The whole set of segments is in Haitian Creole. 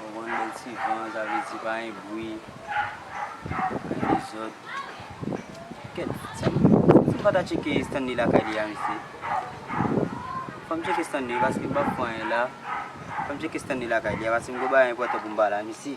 Yon bann bèl ti van, sa vle di pa gen bwi, pa gen dezòd. Kèt, si m pa ta tcheke Stanley lakay li a mesye? Fò m tcheke Stanley paske m pa k wè anyen la. Fò m tcheke Stanley lakay li a paske m gen bagay enpòtan pou m ba l a mesye.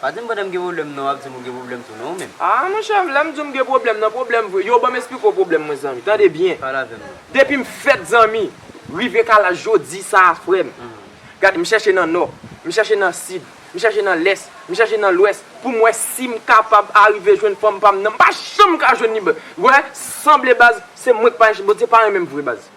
Pa dim pandanm gen problem non wap dim ou gen problem tou non ou menm. Aa monchè lèm diw m gen pwoblèm nan pwoblèm vre yo banm esplike w pwoblèm mwen zanmi tande byen Pale avèm non. Depim fèt zanmi rive ka laj jodi sa a frèm gad m chèche nan nò m chèche nan sid m chèche nan lès m chèche nan lwès poum wè sim kapab arive jwenn fanm pam nan m pa janm ka jwenn li baz wè sanble baz se mwen k pa Bondye pa renmenm vre baz.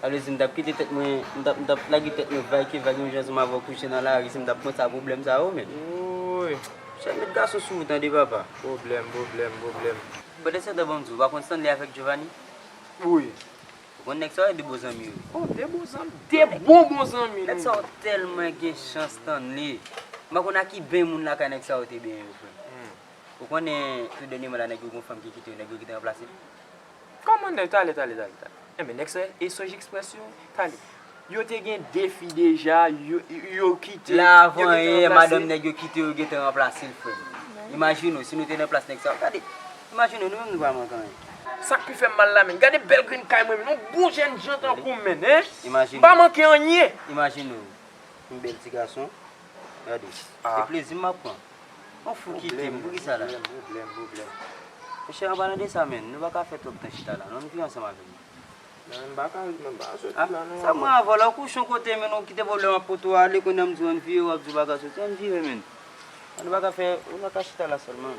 Sa vle di m tap kite tèt mwen, m tap m tap lage tèt mwen vay ki vay yon jan sou m avè w kouche nan lari si m tap pran sa pwoblèm sa yo menn. Wouuyy. Chèf met gason sou ou tande papa. Pwoblèm, pwoblèm, pwoblèm. Pandansetan ban m di w, ou pa konn Stanley avèk Giovanni? Wi. Ou konn nèg sa yo e 2 bon zanmi yo? Oh, 2 bon zanmi, 2 bon bon zanmi nou ye. Nèg sa yo tèlman gen chans Stanley. M pa konn a ki beny moun lakay nèg sa yo te benyen yo frè m. Ou konnen tou dènyèman la nèg yo gen yon fanm ki kite yo, nèg yo ki te ranplase l? Kòman nèg tale tale tale tale. Enben nèg sa e sonj express yo tale. Yo te gen 2 fi deja yo kite. La avan yè madanm nèg yo kite yo gentan ranplase l frè m. Imajine w si nou te nan plas nèg sa yo gade. Imajine w nou menm nou pa manke anyen. Sak pi fèm mal la menn. Gade bèl grenn kay mwen menn. Yon bon jènjan tankou m menn. Imajine w. M pa manke anyen. Imajine w yon bèl ti gason. Gade sa. Se plezi map pran. Yon fou kitem pou kisa la? Pwoblèm, pwoblèm, pwoblèm. Mèche an palan de sa menn, nou paka fè twòp tan chita la non, nou vin ansanm avèm non. Nan m paka ret mwen paka soti la non. Sa pran vòlò kouchon kotem menn ou kite pwoblèm ak poto a ale kounya m diw ann vire wap diw paka soti ann vire menn. An nou paka fè, nou paka chita la sèlman.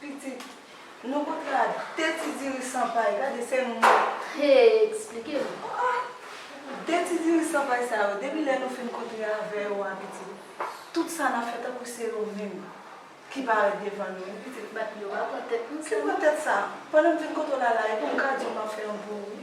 Pitit, nou pot la de ti diri san pay, gade se nou menm. He, eksplike nou. Oa! De ti diri san pay sa yo, depi lè nou fin kontre avè yo a pitit, tout sa nan fè tankou se yo menm ki parèt devan nou. Pitit, bat yo a, pran tèt nou sèlman. Ki pran tèt sa? Pandan m vin kote w la la, e pou m ka di w m ap fè yon pou ou?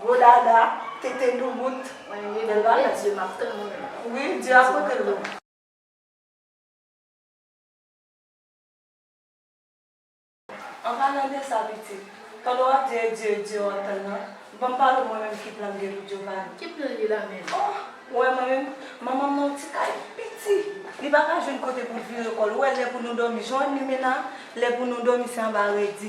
Gwo dada, tete doubout. Mwen rive devan nan zye map tann moun yo. Wi, Dye ap pote lou. An palan de sa pitit, pandan wap di e Dye, e Dye wap tann nan, banm pale w mwen menm ki plan bgy Giovanni. Ki plan li la menm? Oh! Ou wè mwen menm, manman mwen ti kay piti, li paka jwenn kote poul vire kòl, ou wè lè pou nou dòmi, Joan Limena, lè pou nou dòmi se anba redi.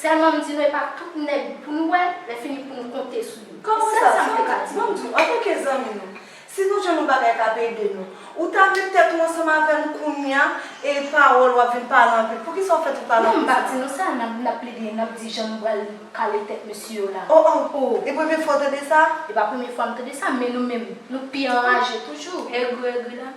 Sèlman m di nou e pa tout nèg pou nou wè, lè fini pou nou konte sou yo. Kòman sa? Sèl sa m te ka di nou. Bon m di w, antanke zanmi nou, si nou jwenn yon bagay k ap ede nou, ou ta met tèt ou ansanm avè nou kounye a e pawòl w ap vin pale anpil. Poukisa w fè tout pale anpil sa? Non, m pa di nou sa, n ap n ap plede, n ap di jan nou pral kale tèt mesye yo la. O o! O! E premye fwa w tande sa? E pa premye fwa m tande sa, men nou menm, nou pi anraje toujou. Egri egri la.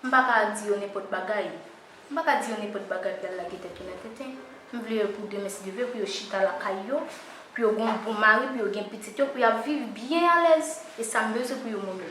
M pa ka di yo nenpòt bagay. M pa ka di yo nenpòt bagay pou y al lage tèt yo nan tenten. M vle yo pou demen si Dye vle pou yo chita lakay yo, pou yo gen yon bon mari, pou yo gen pitit yo, pou y ap viv byen alèz. E sa m bezwen pou yo moun yo.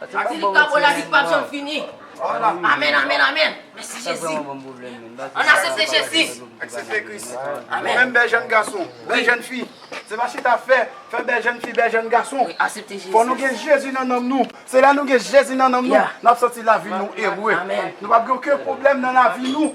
Fatilik pa bon lavi pap janm fini amen amen amen mèsi jezi an asepte jezi aksepte kris amen fèm bèl jèn gason bèl jèn fi se pa chita fè fè bèl jèn fi bèl jèn gason fò nou gen jezi nan nanm nou se lè nou gen jezi nan nanm nou nap santi lavi nou ere nou pap gen oken pwoblèm nan lavi nou.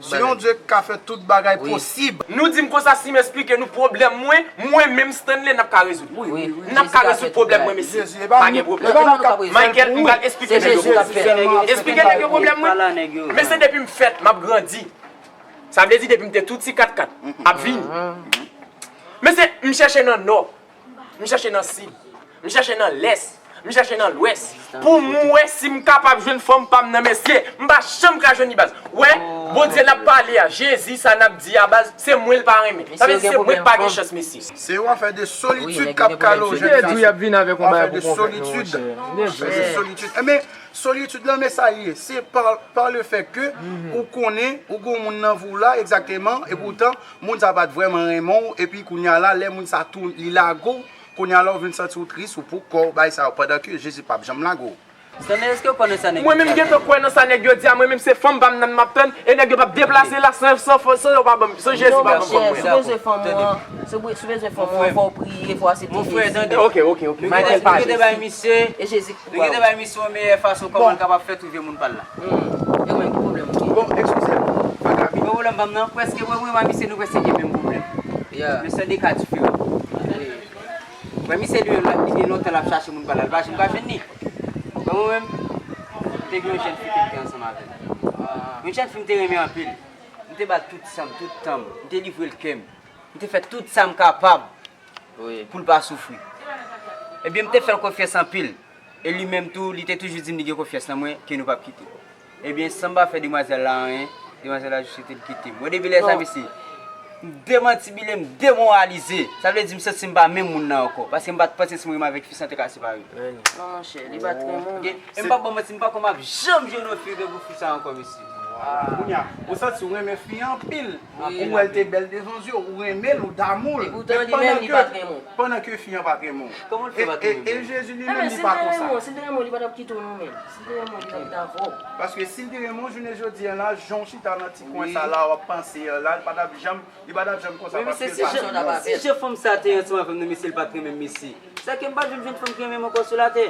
Se yon Dye k ka fè tout bagay posib. Nou di m konsa si m esplike nou pwoblèm mwen, mwen menm Stanley n ap ka rezoud. N ap ka rezoud pwoblèm mwen mesye. Pa gen pwoblèm. Michael m pral esplike nèg yo pwoblèm. Esplike nèg yo pwoblèm mwen. Men se depi m fèt m ap grandi. Sa vle di depi m te tou ti katkat ap vini. Men se m chèche nan nò. M chèche nan sid. M chèche nan lès. M chèche nan lwès. Pou m wè si m kapab jwenn fanm pa m nan mesye. M pa janm ka jwenn li baz. Wè, Bondye n ap pale a, Jezi sa n ap di a baz, se mwen l pa renmen. Sa vle di se mwen k pa gen chans mesye. Se yon afè de solitid k ap kale w jèn gason. Yon afè de solitid. Enben, solitid lan men sa l ye. Se pa le fè ke ou konnen ou gen yon moun nan vi w la egzakteman epoutan Moun sa pat vrèman renmen w epi kounya la lè moun sa tou li lage w kounya la w vin santi w tris ou pou kò w bay sa yo pandan ke Jezi pap janm lage w. Stanley eske ou konnen sa nèg yo di a Stanley? Mwen menm m gentan kwè nan sa nèg yo di a mwen menm se fanm pam nan map tann e nèg yo pap deplase la san yo pa banm san Jezi pa banm fanm mwen. Non monchè si w bezwen fanm ou an si w bezwen fanm ou an fò w priye fò w asepte Jezi. Monfrè tande. Ok ok ok Michael pa Jezi e Jezi. Li gentan bay misye yon meyè fason kòman l kapab fè twouve moun pa l la. Yo menm ki pwoblèm yo genyen? Bon, ekskize m, pa gaby. Bon pwoblèm pa m nan, prèske mwen menm ak misye nou prèske gen menm pwoblèm. Men sèl de ka diferan. Wè misye li menm li gen lontan l ap chache moun pa l la, li pa janm ka jwenn ni. Wè mwen menm, m te gen yon jèn fi ki te ansanm avè m. Yon jèn fi m te renmen anpil. M te ba l tout sa m, tout tan m. M te livre l kè m. M te fè tout sa m kapab pou l pa soufri. Ebyen, m te fè l konfyans anpil, e li menm tou, li te toujou di m li gen konfyans nan mwen, ke nou p ap kite. Ebyen, san m pa fè demwazèl la anyen, demwazèl la jis rete l kite m. Bon, depi lè sa, mesye, m demantibile, m demoralize. Sa vle di, m santi m pa menm moun nan ankò, paske m pa t panse si m renmen avèk fi sa te ka separe. Non, monchè, li pa t renmen w. E m p ap ba w manti, m pa kwè m ap janm jwenn yon fi yo gen pou fi sa ankò, mesye. Kounye a, ou santi w renmen fi an anpil. Apre ou wèl te bèl devan zye w, ou renmenl, ou damou l, pandan ke fi an pat renmen w. E Jezi li menm li pa konsa. Paske sil te renmen w jounen jodi an la, jan w chita nan ti kwen sa la wap panse an la, li patap janm li patap janm konsa paske l pa renmen w. Si jan fanm sa te ansanm avèm nan mesye l pat renmenm mesye, sa ke m pat vle m jwenn fanm ki renmenm ankò sou latè.